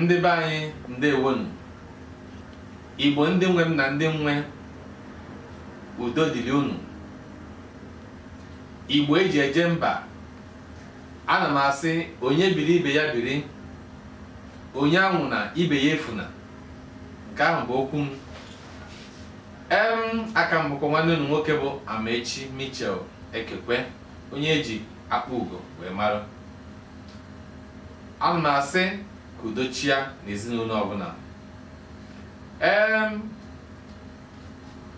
ndị be anyị ndewonu igbo ndị nwe m na ndị nwe udo dịrị unu igbo eji eje mba ana m asị onye biri ibe ya biri onye anwụna ibe ya efuna nke ahụ bụ okwu m em aka m bụkwa nwanne unu nwoke bụ Amaechi Michel Ekekwe onye eji akpa ugo wee mara ana m asị ka udo chia n'ezinụlọ ọbụla em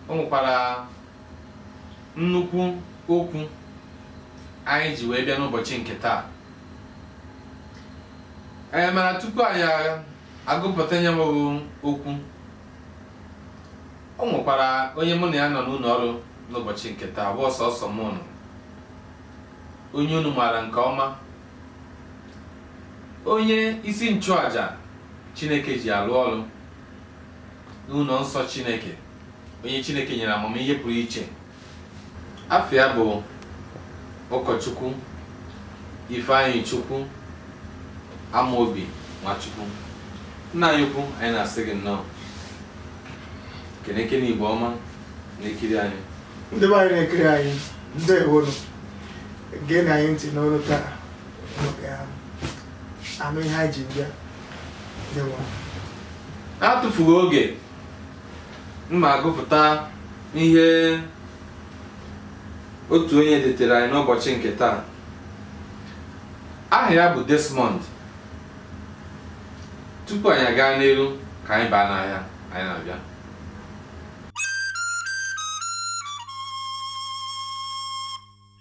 o nwekwara nnukwu okwu anyị ji wee bịa n'ụbọchị nke taa ee mana tupu anyị agụpụta nya bụ okwu o nwekwara onye mụ na ya nọ n'ụlọ ọrụ n'ụbọchị nke taa ọ bụrọ sọsọ mụ nọ onye unu maara nke ọma onye isi nchụaja chineke ji alụ ọrụ n'ụlọ nsọ chineke onye Chineke nyere amamihe pụrụ iche afa ya bụ ụkọchukwu Ifeanyịchukwu Amaobi Nwachukwu nna anyị ukwu anyị na-asị gị nnọọ kenekene Igbo ọma na-ekiri anyị ndị be anyị na-ekiri anyị ndewonu geenụ anyị ntị n'olu taa anụ ihe anyị ji bịa n'atụfughị oge m ma-agụpụta ihe otu onye detere anyị n'ụbọchị nke taa aha ya bụ Desmond tupu anyị aga n'iru ka anyị baa n'ahịa anyị na-abịa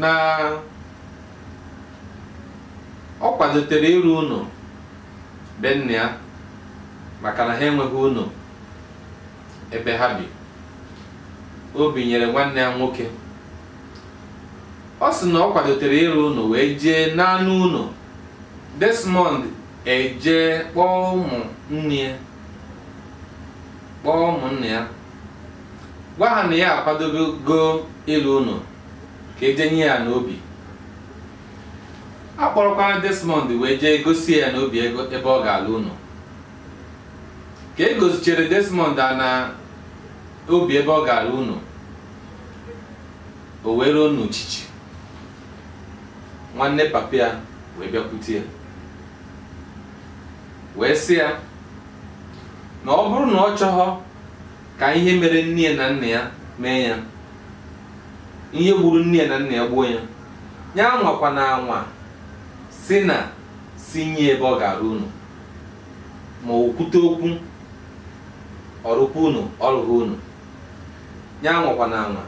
na ọ kwadotere ịrụ ụlọ be nna ya maka na ha enweghị ụlọ ebe ha bi o binyere nwanne ya nwoke ọ sị na ọ kwadotere ịrụ ụlọ wee jee n'ana ụlọ Desmond ejee kpọọ ụmụnne ya kpọọ ụmụnne ya gwa ha na ya akwadogo ịlụ ụnọ ka e jee nye ya ana obi a kpọrọkwara Desmond wee jee gosi ya ana obi ebe ọ ga-alụ ụnọ ka e gosichere Desmond ana obi ebe ọ ga-alụ ụnọ o wee ruo n'uchichi nwanne papa ya wee bịakwute ya wee sị ya na ọ bụrụ na ọ chọghọ ka ihe mere nne ya na nna ya mee ya ihe gburu nne ya na nna ya gbuo ya ya anwakwana anwa sị na sị nye ebe ọ ga-arụ ụnọ ma o kwute okwu ọ rụkwa ụnọ ọ rụghị ụnọ ya anwakwana anwa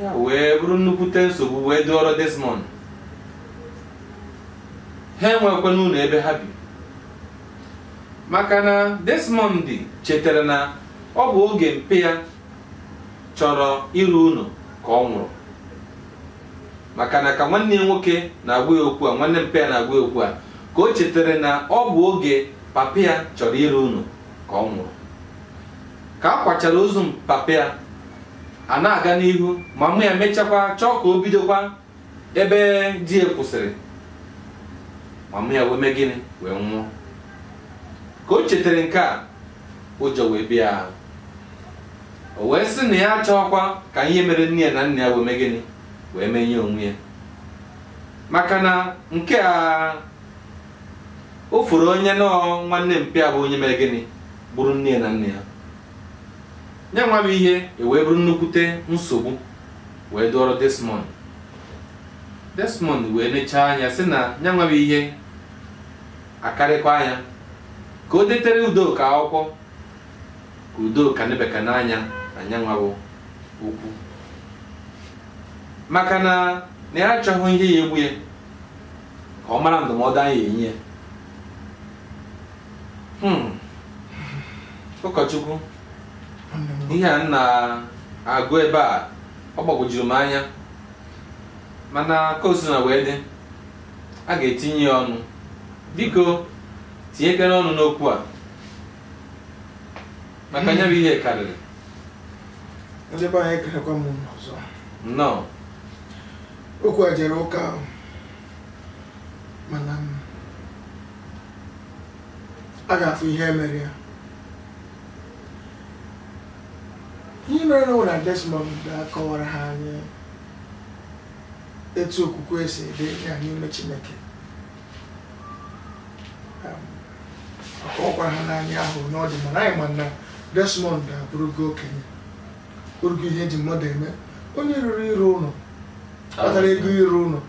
ya wee bụrụ nnukwute nsogbu wee dụọrọ Desmond ha enwekwana ụnọ ebe ha bi maka na Desmond chetara na ọ bụ oge mpa ya chọrọ ịrụ ụnọ ka ọ nwụrụ maka na ka nwanne ya nwoke na-agwa ya okwu a nwanne mpa ya na-agwa ya okwu a ka o chetara na ọ bụ oge papa ya chọrọ ịrụ ụnọ ka ọ nwụrụ ka a kwachara ozu papa ya a na-aga n'ihu mama ya mechakwa chọọ ka o bidokwa ebe di ya kwụsịrị mama ya wee mee gịnị wee nwụọ ka o chetara nke a ụjọ wee bịa ya ahụ o wee sị na ya achọghịkwa ka ihe mere nne ya na nna ya wee mee gịnị wee mee nya onwe ya maka na nke a o furu onye na ọ nwanne mpa ya bụ onye mere gịnị gburu nne ya na nna ya ya nwa bụ ihe ewee bụrụ nnukwute nsogbu wee dụọrọ Desmond Desmond wee nechaa anya sị na ya nwa bụ ihe akarịkwaa nya ka o detere Udoka akwụkwọ ka Udoka nebekene anya na ya nwa bụ okwu maka na na ya achọghị ihe ya-egbu ya ka ọ mara ndụmọdụ a ya-enye ya hmm. ụkọchukwu ihe a na-agụ ebe a ọ gbagwojuru m anya mana ka o sina wee dị a ga-etinye ya ọnụ biko tinyekere ọnụ n'okwu a maka nya bụ ihe karịrị ndị be anyị ekenekwa m unu ọzọ nnọọ okwu a jere ụka ahụ mana m- a ga-afụ ihe mere ya ihe mere na Desmond akọwara ha anyị etu okwukwe si dị ya n'ime chineke Um, akọwakwara ha anyị afọ one ọ dị mana anyị ma na desmond abụrụgo okenye orugo ihe eji mmadụ eme onye ruru ịrụ ụlọ kpatara ego ịrụ ụlọ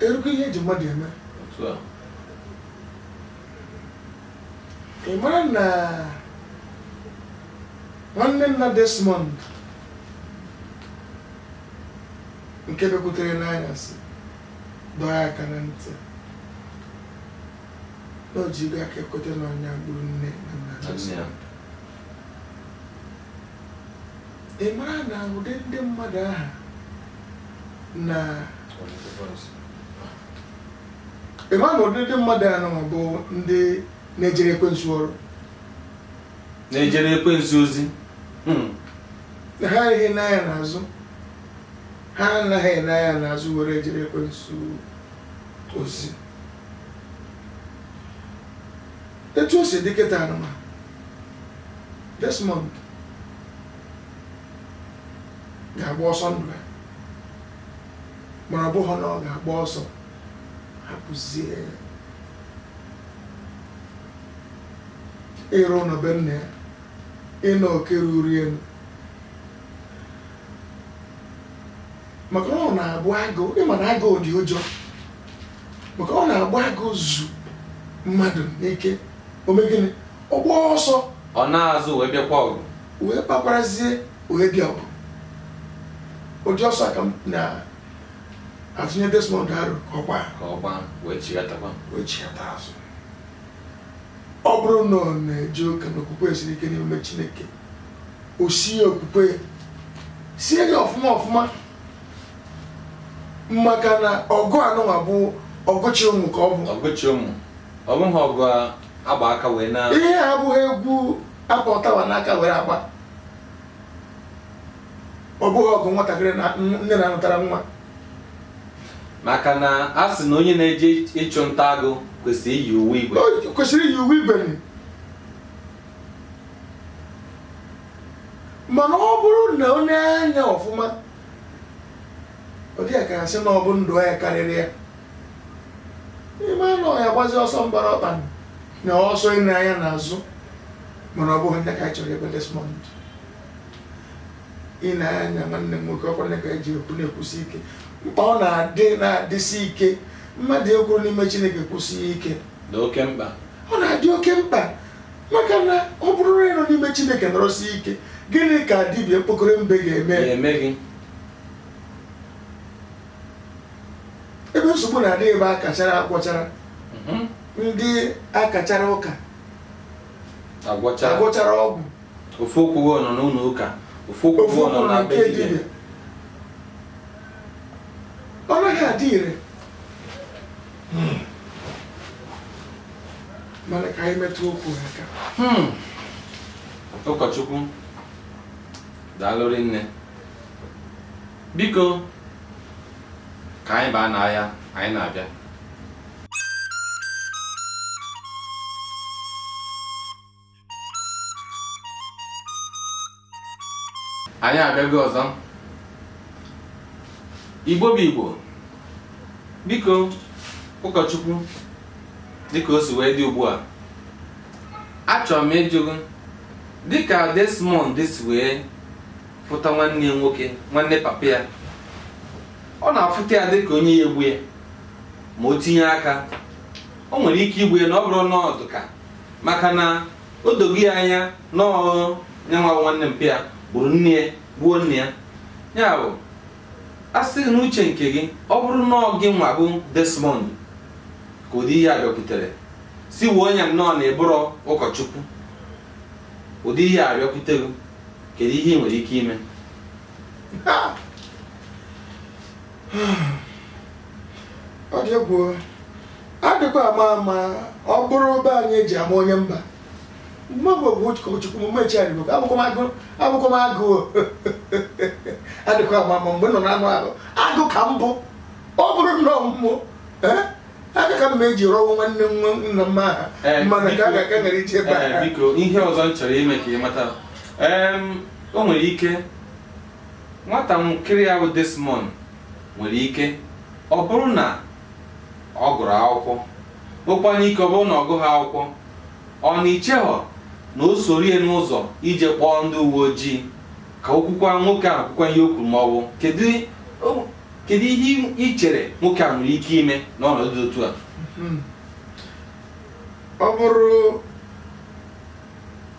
erugo ihe eji mmadụ eme ị mara na nwanne nna Desmond nke bịakwutere ya n'anyasị dọọ ya aka na ntị na o jigo aka ya kweta na ọ nya gburu nne na nna Desmond ị mara na ụdị ndị mmadụ aha na ị ma na ụdị ndị mmadụ anụnwa bụ ndị na-ejere ekwensu ọrụ na-ejere ekwensu ozi hmm. ha anaghị ene anya n'azụ ha anaghị ene anya n'azụ were ejere ekwensu ozi etu o si dị kịta anụnwa Desmond ga-agba ọsọ ndụ ya mana ọ bụghị na ọ ga-agba ọsọ hapụzie ịrụ ụlọ be nna ya ịnọ oke ruru ya maka na ọ na-abụ agụ ị ma na agụ dị ụjọ maka ọ na-abụ agụ zu mmadụ n'ike o mee gịnị ọ gbaa ọsọ ọ naa azụ wee bịakwa ọgụ wee kpakwarazie wee bịa ọgụ ụdị ọsọ a ka m na-atụnye Desmond aro ka ọ gbaa ka ọ gbaa wee chighatakwa wee chighata azụ ọ bụrụ na ọ na-eje ụka na okwukwe siri ike n'ime Chineke o sie okwukwe ya sie ya ọfụma ọfụma maka na ọgụ anụnwa bụ ọgụ chị ọmụ ka ọ bụ ọgụ chị ọmụ ọ bụghị ọgụ a gba aka wee na ihe a abụghị egwu a kpa ụtaba n'aka were agba ọ bụghị ọgụ nwatakịrị na nne na-anụtara nwa maka na a sị na onye na-eje ịchụ nta agụ kwesịrị iyi uwe igwe O kwesịrị iyi uwe igwe mana ọ bụrụ na o nee ya anya ọfụma ọ dị ya ka a sị na ọ bụ ndụ ya karịrị ya ime anụ ọhịa gbazi ọsọ mgbara ọkpa na ọsọ ine anya n'azụ mana ọ bụghị ndị ka anyị chọrọ ebe desmond ị na-anya nwanne m nwoke ọkwa ka eji ekwu na-ekwusi ike mkpa ọ na-adị na-adịsi ike mmadụ ịkwụrụ n'ime chineke kwụsie ike dị oke mkpa ọ na-adị oke mkpa maka na ọ bụrụ na ị nọ n'ime chineke nọrọsie ike gịnị ka dibịa mkpokoro mbe ga-eme gị ebe nsogbu na-adị ebe a kachara agwọchara Mhm. ndị akachara ụka agwọchara ọgwụ ofu ụkwụ gị nọ n'ụlọ ụka ofu ụkwụ gị nọ na be dibịa ọ naghị adị ire mana ka anyị metụ okwu a aka Hmm. ụkọchukwu daalụ rinne biko ka anyị baa n'ahịa anyị na-abịa anyị abịago ọzọ igbo bụ igbo biko ụkọchukwu dịka o si wee dị ugbu a achọrọ m ịjụ gị dịka Desmond si wee fụta nwanne ya nwoke nwanne papa ya ọ na-afụta ya dịka onye ya-egbu ya ma o tinye aka o nwere ike igbu ya na ọ bụrụ na ọ dị ka maka na o dogo ya anya na ọ bụ ya nwa nwanne mpa ya gburu nna ya gbuo nne ya ya bụ a sị n'uche nke gị ọ bụrụ na ọ gị nwa bụ Desmond ka ụdị ihe a bịakwutere sị were ya nnọọ na ị bụrọ ụkọchukwu ụdị ihe a bịakwutere kedu ihe ị nwere ike ime ọ dị egwu adịkwa ama ama ọ bụrụ be anyị eji ama onye mba mgbe m bụ ụkọchukwu m mechi adịgo abụkwa m agụ abụkwa m agụ adịkwa ama ama mgbe m nọ n'anụ ahụ agụ ka m bụ ọ bụrụ nnọọ mụ o eh? aka ka m ma-eji rọwa nwanne nna m ahụ Eh, mana ka a biko- ga-aka ghara ije ebe Ee, a biko ihe ọzọ m chọrọ ime ka ị mata Em, o nwere ike nwatakịrị a bụ desmond nwere ike ọ bụrụ na ọ gụrụ akwụkwọ nwekwanụ ike ọ bụrụ na ọ gụghị akwụkwọ ọ na i chehọ na o soro ya n'ụzọ ije kpọọ ndị uwe ojii ka o kwukwa nwoke ahụ kwukwa ihe o kwuru ma ọ bụ kedu o- kedu ihe i- i chere nwoke a nwere ike ime n'ọnọdụ dị otu a ọ bụrụ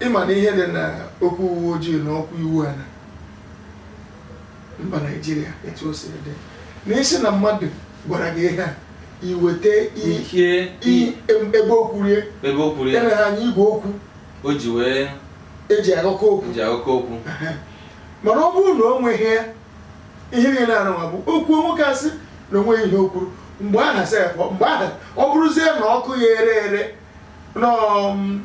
ị ma na ihe dị na okwu uwe ojii na okwu iwu a na mba naijiria etu o siri dị na ị sị na mmadụ gwara gị ihe a i weta i- ihe i- em- ebe o kwuru ya ebe o kwuru ya ya na ha anyị igwe okwu o ji wee eji agụkọ okwu Aha. mana ọ bụrụ na o nweghị ya ihe niile anụnwa bụ okwu nwoke a sị na o nweghị ihe o kwuru mgbe aha sef mgbe aha ọ bụrụzie na ọkụ ya ere ere nọọ m,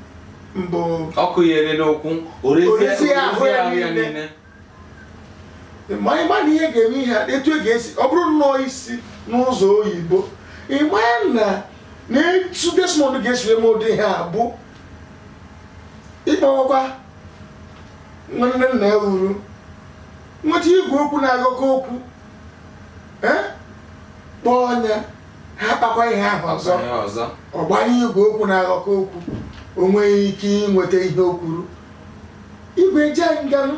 mbụ ọkụ ya ere n'okwu o rezi o rezie ahụ ya ahụ ya niile. niile ma anyị ma na ihe ga-eme ihe a, etu e ga-esi ọ bụrụ nnọọ i si n'ụzọ oyibo ị ma na na etu Desmond ga-esi eme ụdị ihe a bụ ịkpọwakwa nwanne nna ya uru nweta igwe okwu na-agụkọ okwu eh? kpọọ onye a ha kpakwa ihe ahụ ọzọ ọ gbanye igwe okwu na-agụkọ okwu o nwee ike inweta ihe o kwuru igwe eje nga nụ.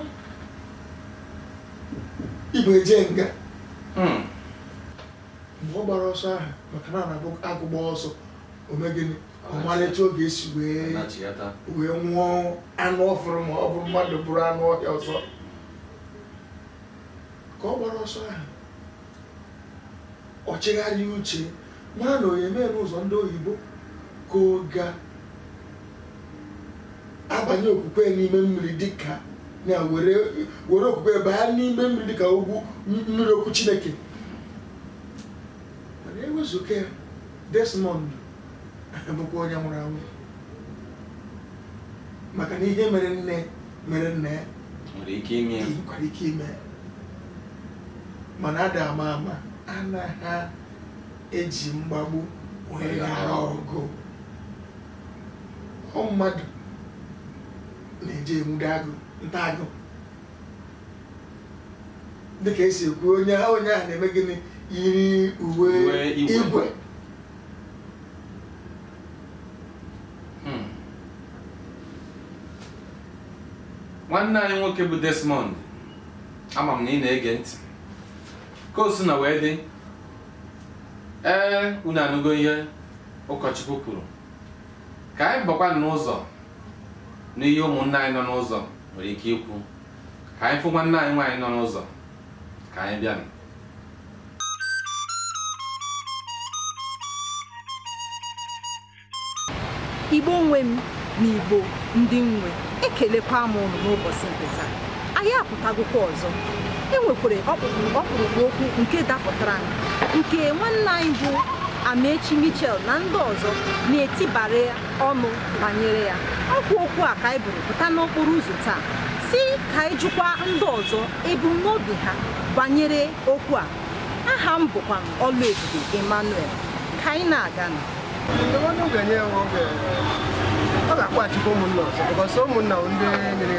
igwe eje nga Hmm. mgbe ọ gbara ọsọ ahụ maka na ọ na-abụ agụ gbaa ọsọ o mee gịnị ọ mara etu ọ ga-esi wee nachigata wee nwuo anụ ọ fụrụ ma ọ bụ mmadụ bụrụ anụ ọhịa ọzọ ka ọ gbara ọsọ ahụ ọ chigharịa uche mara na ọ ya-eme n'ụzọ ndị oyibo ka ọ ga-abanye okwukwe n'ime mmiri dịka na were were okwukwe baa n'ime mmiri dịka ogwu mmiri okwu chineke mana ewezuga ya Desmond bụkwa onye nwụrụ anwụ maka na ihe mere nne mere nna ya nwekwara ike ime ya. mana a da-ama ama anaghị eji mgbagbu wee ghara ọgụ ọ mmadụ na-eje enwude agụ nta agụ dịka e si ekwu onye ahụ onye ahụ na-eme gịnị yiri uwe Uwe igwe. igwe Hmm. nwanne anyị nwoke bụ Desmond ama m na ị na-ege ntị ka o sina wee dị ee unu anụgo ihe ụkọchukwu kwuru ka anyị bakwa n'ụzọ n'ihe ụmụnne anyị nọ n'ụzọ nwere ike ikwu ka anyị fụ nwanne anyị nwaanyị nọ n'ụzọ ka anyị bịa igbo nwe m na igbo ndị nwe ekelekwa m ụnụ n'ụbọchị nke taa anyị apụtagokwa ọzọ e nwekwara ọkpụrụkpụ okwu nke dapụtaranụ nke nwanne anyị bụ amaechi michael na ndị ọzọ na-etibara ya ọnụ banyere ya ọ kwa okwu a ka anyị buru pụta n'okporo ụzọ taa sị ka anyị jụkwa ndị ọzọ ebumnobi ha banyere okwu a aha m bụkwa Ọlụebube Emmanuel ka anyị na-aga na ọ ga-akpọchikwa ụmụnna ọzọ ụmụnna ndị nyere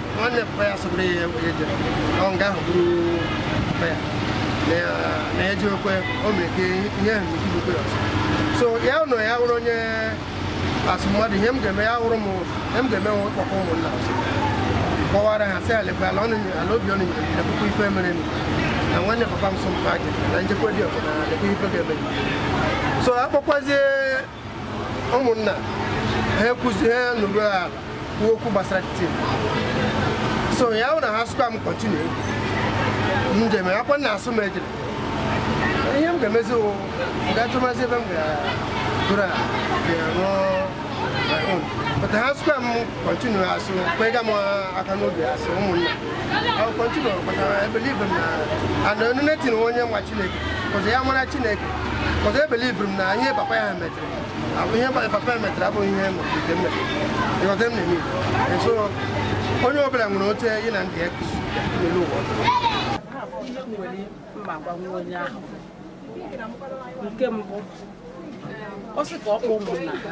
nwanne papa ya sogburu ya eje ọ nga ahụ bụrụ papa ya na ya ji okwe o mere ka ihe ahụ mekwu okwe ọzọ so ya nọ ya wụrụ onye as mmadụ ihe m ga-eme ya wụrụ m ihe m ga-eme wụ kpọkọọ ụmụnna ọzọ kọwaara ha sị lekwa ala ụnụ ala obi ụnụ nyere na puku ife mere na nwanne papa m sọ mpa gị na njekwa dị ọzọ na lekwa ife ga-eme so akpọkwazie ụmụnna ha ekwuzi ha nọrọ ala kwuo okwu gbasara kiti so ya wụ na ha sịkwa m continue njem akwa na asụ m ejere ihe m ga-emezi wụ gaa chọwazie ebe m ga-egoro ala ga-arụ my own but ha sịkwa m continue asụ kwega m aka n'obi as ụmụnna continue kpatara e believe m na ana onye nwa chineke because ya mara chineke But e believe m na ihe papa m metere ihe papa m metere bụ ihe m metere You got them to me. And so, onye ọ bụla nwere otu ị na ndị ya n'elu ụwa ihe m nwere m ga-agwa onye ahụ nke mbụ ọ sị ka ọ kpọọ ụmụnna ha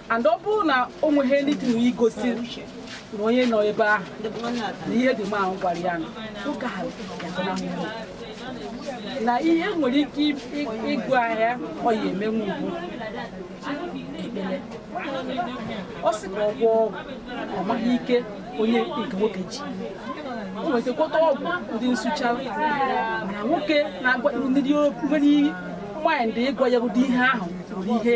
and ọ bụrụ na o nweghị anything gosiri na onye nọ ebe ahụ na ihe dị mma gwara ya na oge ahụ ga-agọnahụ na ihe nwere ike ịgụ ahịa ọ ya emenwu ugwu ekpere ọ sị ka ọ gwọọ ọgwụ ọ maghị ike onye nke nwoke ji o nwetakọta ọgwụ ndị nsụcha na nwoke na-agwa ndị nwere mind ịgwa ya ụdị ihe ahụ nwere ihe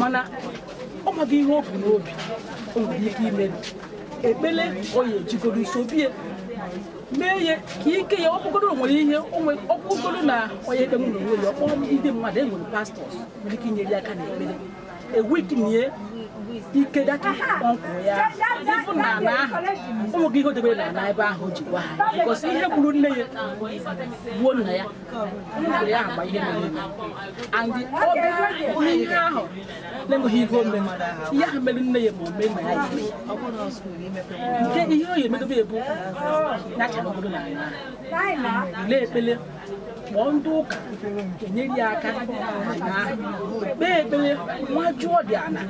mana ọ maghị ihe o bu n'obi o nwere ike ime ekpele ọ ya ejigodo nso bie mee ya ka ike ya ọ bụgoro nwere ihe ọ bụgoro na onye ekpe nwere onwe ya ọ kpọọ ndị mmadụ e nwere pastors nwere ike inyere ya aka n'ekpere e weaken ike that uncle ya even n'ala ahụ ọ maghị ihe o debere n'ala ebe ahụ o ji gwa ha because ihe gburu nne ya gbuo nna ya kpọọ ndị ụka enyere ya aka kpee ekpere nwa jụọ dị ana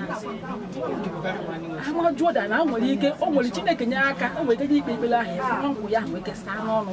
ama jụọ dị ana nwere ike o nwere chineke nye aka o nwere ike ikpe ekpere ahụ ya nkwụ ya ahụ ekesa n'ọnụ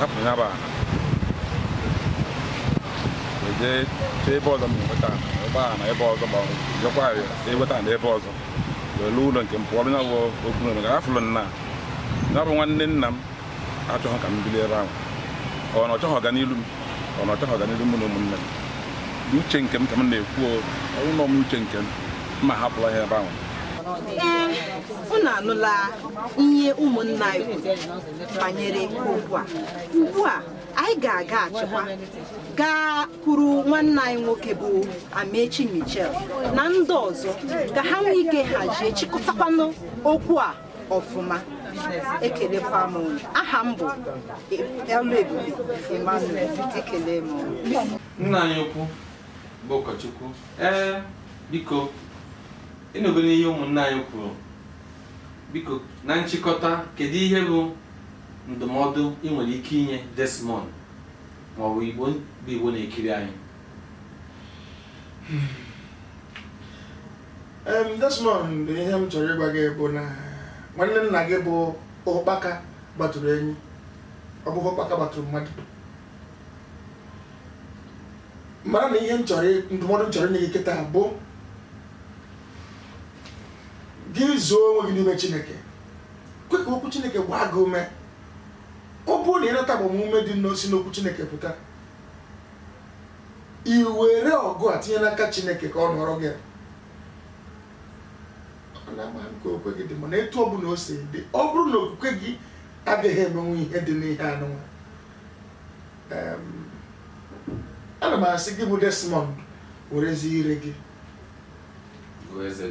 hapụ ya bụ ala jee chee ebe ọzọ m na-enweta ala ebe a na ebe ọzọ ma ọ bụ jekwa eweta ala ebe ọzọ wee lụọ ụlọ nke m pụọ ya bụ okwu na ga afụlụ na ya bụ nwanne nna m achọghị ka m bili ebe ahụ ọ na ọ chọghị ọganilu m ọ na ọ chọghị ọganilu mụ na ụmụnne m dị uche nke m ka m na-ekwu ọ bụrụ na m uche nke m m ahapụla ya ebe ahụ unu anụla ihe ụmụnna anyị kwuru banyere okwu a ugbu a anyị ga-agaghachikwa gakwuru nwanne anyị nwoke bụ Amechi Michael na ndị ọzọ ka ha nwee ike hazie chịkọtakwanụ okwu a ọfụma ekelekwa m aha m bụ Oluebube Emmanuel ekele m nna anyị ukwu bụ ụkọchukwu ee biko ị nụgonụ ihe ụmụnna anyị kwuru biko na nchịkọta kedu ihe bụ ndụmọdụ ị nwere ike inye Desmond ma ọ bụ Igbo bụ Igbo na-ekiri anyị Em, Desmond ihe m chọrọ ịgwa gị bụ na nwanne nna gị bụ ụkpaka gbatụrụ enyi ọ bụghị ụkpaka gbatụrụ mmadụ mana ihe m chọrọ ndụmọdụ m chọrọ inye gị kịta bụ gị zoo onwe gị n'ime chineke kwe ka okwu chineke gbaa gị ume ọ bụrụ na ị nata agbamume dị na o si n'okwu chineke pụta i were ọgụ a tinye n'aka chineke ka ọ nụọrọ gị ọ na-ama m ka okwukwe gị dị mana etu ọ bụla o si dị ọ bụrụ na okwukwe gị agaghị emenwu ihe dị n'ihe anụnwa Em, ana m asị gị bụ Desmond werezi ire gị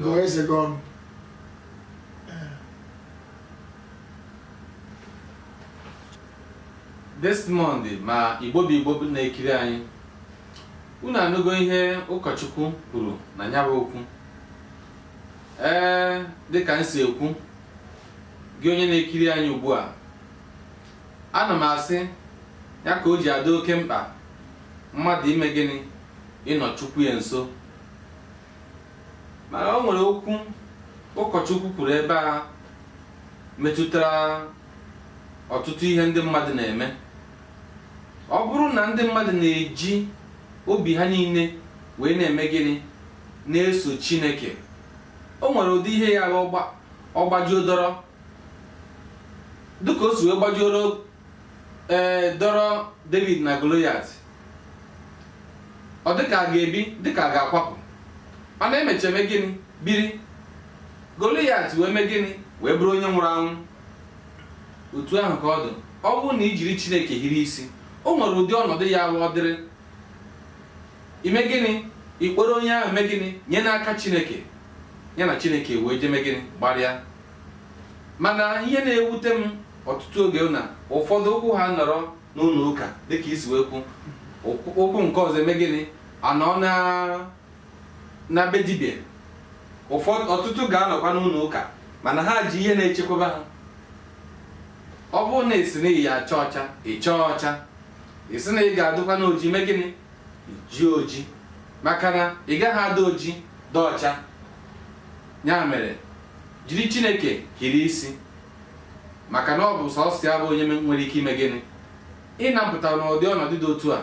gụọ eze gị ọnụ Desmond ma Igbo bụ Igbo na-ekiri anyị unu anụgo ihe ụkọchukwu kwuru na ya bụ okwu ee dịka anyị si ekwu gị onye na-ekiri anyị ugbu a Ana m asị ya ka o ji adị oke mkpa mmadụ ime gịnị ịnọ Chukwu ya nso mana o nwere okwu ụkọchukwu kwuru ebe a metụtara ọtụtụ ihe ndị mmadụ na-eme ọ bụrụ na ndị mmadụ na-eji obi ha niile wee na-eme gịnị na-eso Chineke o nwere ụdị ihe ya ọ gbajuo dọrọ dịka o si wee gbajuoro ee dọrọ david na goliat ọ dịka a ga-ebi dịka a ga-akwapụ mana e mechaa e mee gịnị biri goliat wee mee gịnị wee bụrụ onye nwụrụ anwụ otu ahụ ka ọ dị ọ bụrụ na i jiri chineke hiri isi o nwere ụdị ọnọdụ ya-abụ ọ dịrị i mee gịnị ị kpọrọ onye ahụ mee gịnị nye n'aka chineke ya na chineke wee je mee gịnị gbarịa mana ihe na-ewute m ọtụtụ oge na ụfọdụ ụkwụ ha nọrọ n'ụlọ ụka dịka i si wee kwuo ụkwụ- ụkwụ nke ọzọ emee gịnị anọọ na be dibịa ụfọdụ ọtụtụ ga-anọkwa n'ụlọ ụka mana ha ji ihe na-echekwaba ha ọ bụrụ na ị sị na ị ya-acha ọcha ị chaa ọcha ị sị na ị ga-adịkwanụ oji mee gịnị jie oji maka na ị gaghị adị oji dị ọcha ya mere jiri chineke hiri isi maka na ọ bụ sọsọ ya bụ onye nwere ike ime gịnị ịnapụta n'ụdị ọnọdụ dị otu a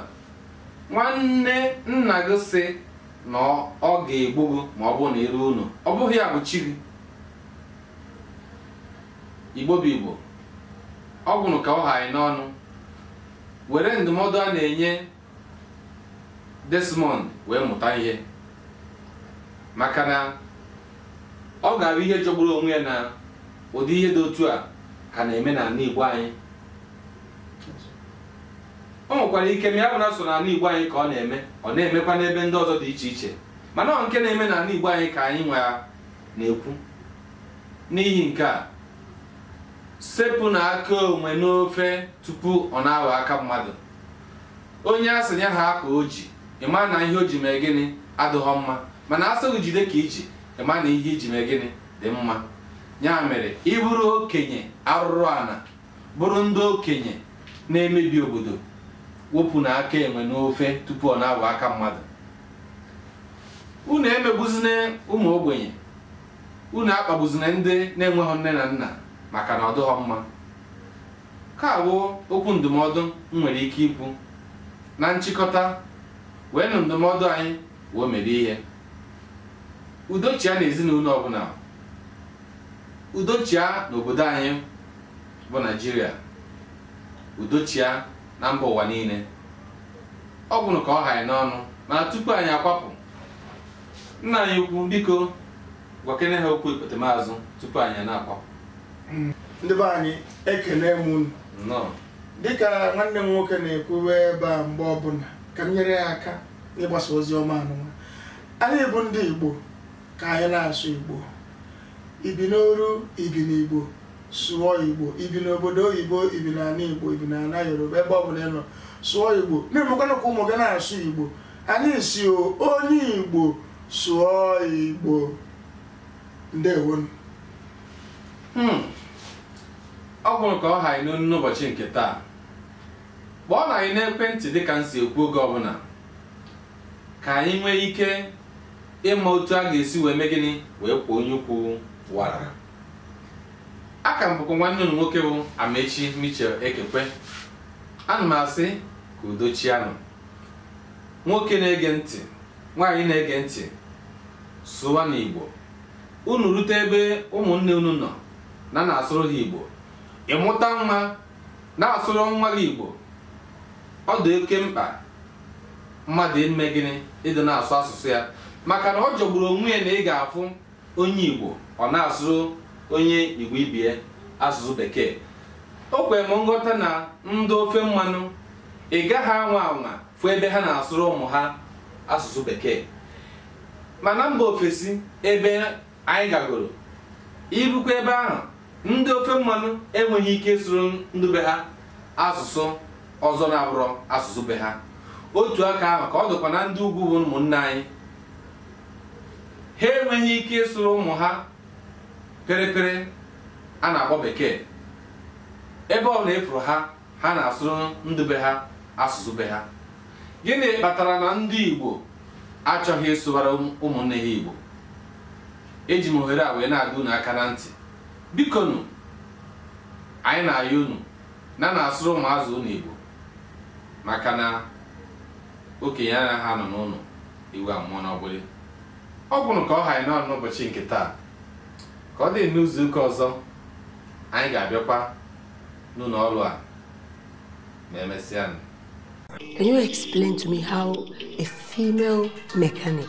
nwanne nna gị sị na ọ ga-egbu gị ma ọ bụrụ na iru unu ọ bụghị ya bụ chi gị igbo bụ igbo ọ gwụrụ ka ọ ha anyị n'ọnụ were ndụmọdụ a na-enye Desmond wee mụta ihe maka na ọ ga-abụ ihe jọgburu onwe ya na ụdị ihe dị otu a ka na-eme n'ala Igbo anyị o nwekwara ike ma ya bụ na sọ n'ala Igbo anyị ka ọ na-eme ọ na-emekwa n'ebe ndị ọzọ dị iche iche mana ọ nke na-eme n'ala Igbo anyị ka anyị nwa na-ekwu n'ihi nke a sepụnụ aka enwe n'ofe tupu ọ na-aghọ aka mmadụ onye a sị ya ha ka o ji ị ma na ihe o ji mee gịnị adịghọ mma mana a sị gị jide ka i ji ị ma na ihe i ji mee gịnị dị mma ya mere ị bụrụ okenye arụrụ ana bụrụ ndị okenye na-emebi obodo wepụnụ aka enwe n'ofe tupu ọ na-abụ aka mmadụ unu emegbuzina ụmụ ogbenye unu akpagbuzina ndị na-enweghị nne na nna maka na ọ dịghọ mma Nke a bụ okwu ndụmọdụ m nwere ike ikwu. Na nchịkọta, weenụ ndụmọdụ anyị wee mere ihe. Udo chịa n'ezinụlọ ọbụla. Udo chịa n'obodo anyị bụ Naịjirịa. Udo chịa na mba ụwa niile. Ọ gwụrụ ka ọ ha anyị n'ọnụ mana tupu anyị akwapụ, nna anyị ukwu, biko, gwakene ha okwu ikpetemazụ tupu anyị na-akwapụ ndị be anyị ekele m unu nnọọ dịka nwanne m nwoke na-ekwuwe ebe a mgbe ọbụla ka m nyere ya aka n'ịgbasa ozi ọma anụnwa anyị bụ ndị igbo ka anyị na-asụ igbo i bi n'oru i bi n'igbo sụọ igbo i bi n'obodo oyibo i bi n'ala igbo i bi n'ala yoruba ebe ọbụla ị nọ sụọ igbo na-emekwana ka ụmụ gị na-asụ igbo Anyị sị onye Igbo sụọ Igbo ndewonụ. Hmm. Ọ bụrụ ka ọ ha anyị n'ọnụ n'ụbọchị nke taa kpọọnụ anyị n'ekwentị dịka m si ekwu oge ọbụla ka anyị nwee ike ịma otu a ga-esi wee mee gịnị wee kwọọ onye ukwu wara aka m bụkwa nwanne unu nwoke bụ Amaechi Michel Ekekwe ana m asị ka udo chianụ nwoke na-ege ntị nwaanyị na-ege ntị sụwanụ igbo unu rute ebe ụmụnne unu nọ na na-asụrụ ha igbo ị mụta nwa na-asụrụ nwa gị igbo ọ dị oke mkpa mmadụ ime gịnị ịdị na-asụ asụsụ ya maka na ọ jọgburu onwe ya na ị ga-afụ onye Igbo ọ na-asụrụ onye Igbo ibe ya asụsụ bekee o kwere m nghọta na ndị ofe mmanụ ị gaghị anwa anwa fụ ebe ha na-asụrụ ụmụ ha asụsụ bekee ma na mba ofesi ebe anyị gagoro i rukwa ebe ahụ ndị ofe mmanụ enweghị ike ịsụrụ ndị be ha asụsụ ọzọ na-abụrọ asụsụ be ha otu aka ahụ ka ọ dịkwa na ndị ugwu bụ ụmụnne anyị ha enweghị ike ịsụrụ ụmụ ha pịrịpịrị a na-akpọ bekee ebe ọbụla ị fụrụ ha ha na-asụrụ ndị be ha asụsụ be ha gịnị kpatara na ndị Igbo achọghị ịsụwara ụmụnne ha Igbo eji m ohere a wee na-adọ unu aka na ntị bikonu anyị na-ayọ unu na na-asụrụ ụmụazụ unu Igbo maka na okenye anaghị anọ n'ụlọ ewu amụọ n'ọgbụrị ọ bụrụ ka ọ ha anyị n'ọnụ n'ụbọchị nke taa ka ọ dị n'izu ụka ọzọ anyị ga-abịakwa n'ụlọ ọrụ a ma emesịa Can you explain to me how a female mechanic